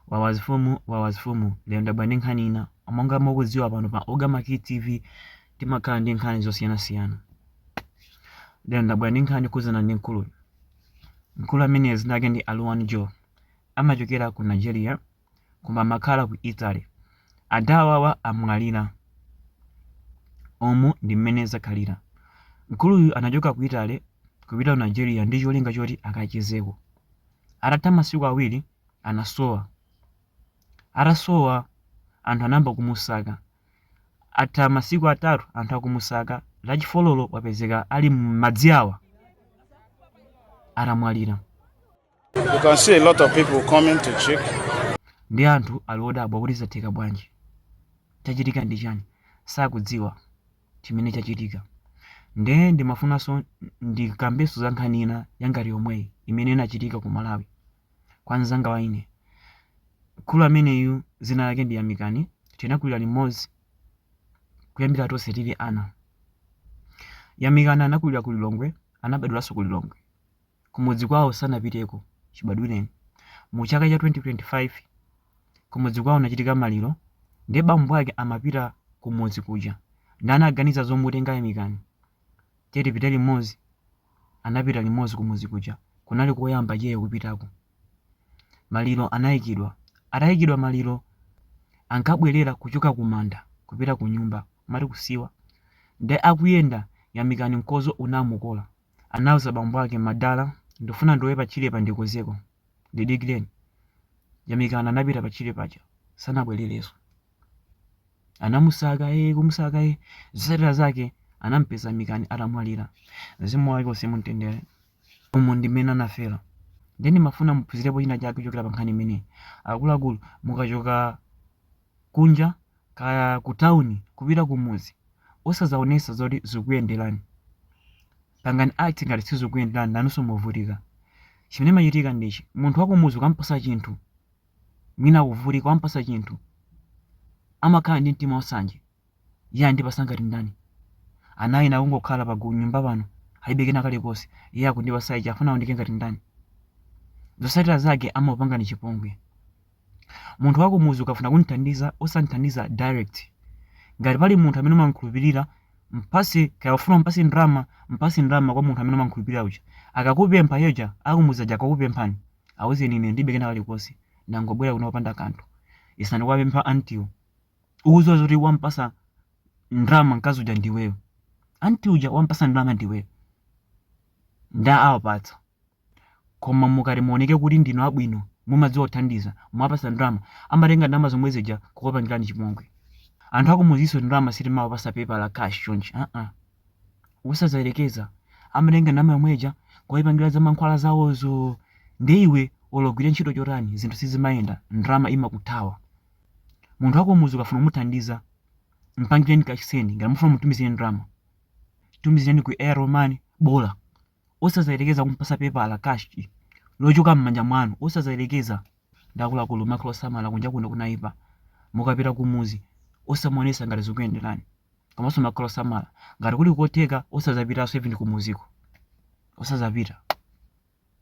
Wawa zifumu, wawa zifumu, lero ndabwera ndi nkhani ina. Monga mukudziwa pano pa Ogama Kid TV timakhala ndi nkhani zosiyanasiyana. Lero ndabwera ndi nkhani yokhudzana ndi mkuluyu. Mkulu ameneyu dzina lake ndi Aluwani Joe. Amachokera ku Nigeria koma amakhala ku Italy. Ada awawa amwalira. Umu ndi mmene zakhalira. Mkuluyu anachoka ku Italy kupita ku Nigeria ndi cholinga choti akachezeko. Atatha masiku awiri anasowa. Atasowa anthu anayamba kumusaka. Patatha masiku atatu anthu akumusaka, lachifololo wapezeka ali m'madzi awa atamwalira. You can see a lot of people coming to check. Ndi anthu ali odabwa kuti zatheka bwanji, chachitika ndi chani, sakudziwa. chimene chachitika. Nde ndimafunanso ndikambenso za nkhani ina yangati yomweyi imene inachitika ku Malawi kwa mzanga wa ine. Mkulu ameneyu dzina lake ndi Yamikani, tinakulira limodzi kuyambira tonse tili ana. Yamikani anakulira ku Lilongwe, anabadwiranso ku Lilongwe. kumudzi kwawo sanapiteko chibadwireni mu chaka cha 2025 kumudzi kwawo kunachitika maliro nde bambo ake amapita kumudzi kuja nde anaganiza zomutenga yamikani tiye tipite limodzi anapita limodzi kumudzi kuja kunali koyamba iyeyo kupitako maliro anayikidwa atayikidwa maliro ankabwerera kuchoka kumanda kupita kunyumba mati kusiwa nde akuyenda yamikani mkozo unamukola anauza bambo ake, Madala, ndifuna ndilowe patchirepa ndikozeko. Ndidikireni. Yamikani anapita patchire paja. Sanabwererenso. Anamusaka ee kumusaka ee. Zotsatira zake anamupeza Yamikani atamwalira. Mzimu wake uuse mumtendere. Umu ndi mmene anafera. Ndiye ndimafuna muphunzirepo china chake kuchokera pa nkhani imeneyi. Akuluakulu, mukachoka kunja kaya ku town kupita kumudzi osazaonesa zoti zikuyenderani pangani act ngati sizikukuyenderani nanunso muvutika chimene chimachitika ndi ichi munthu wakumudzi ukampasa chinthu mwina akuvutika wampasa chinthu amakhala ndi mtima wasanje Iye andipasa ngati ndani? Ana ena akungokhala pa gu- nyumba pano, alibe kena kalikonse. Iye akundipasa ichi, afuna aoneke ngati ndani? Zosatira zake amakupangani chipongwe. Munthu wakumuzi ukafuna kumthandiza, osamthandiza direct. Ngati pali munthu amene umamkhulupirira, mpase kaya ufuna umpase ndalama, mpase ndalama kwa munthu amene umamkhulupirira uja. Akakupempha iye uja, akumuzi aja akakupemphani, auzeni ine ndilibe kena kalikonse, ndangobwera kuno popanda kanthu. Yesani kuwapempha auntiewo. ukuziwa zoti wampasa ndrama mkazi uja ndiweyo anti uja wampasa ndrama ndiweyo ndawapatsa koma mukati muoneke kuti ndinu abwino mumadziwa kuthandiza mwapasa ndrama amatenga ndalama zomwe zija kukupangirani chipongwe anthu akumuzinso ndrama sitimawapasa pepa la cash chonchi uh-uh. usazayerekeza amatenga ndalama yomwe ija kuyipangira za mankhwala zawozo nde iwe ologwira ntchito chotani zinthu sizimayenda ndrama imakuthawa Munthu wakumuzi ukafuna kumuthandiza, mpangireni ka send ngati mufuna mutumizire ndrama. Tumizireni ku Airtel Money bola. Osazayerekeza kumpasa pepa la cash lochoka m'manja mwanu, osazayerekeza nde akuluakulu makhala osamala kunja kuno kunaipa. Mukapita kumuzi osamaonesa ngati zikuyenderani. Komanso makhala osamala ngati kuli kotheka osazapitanso even kumuziko. Osazapita.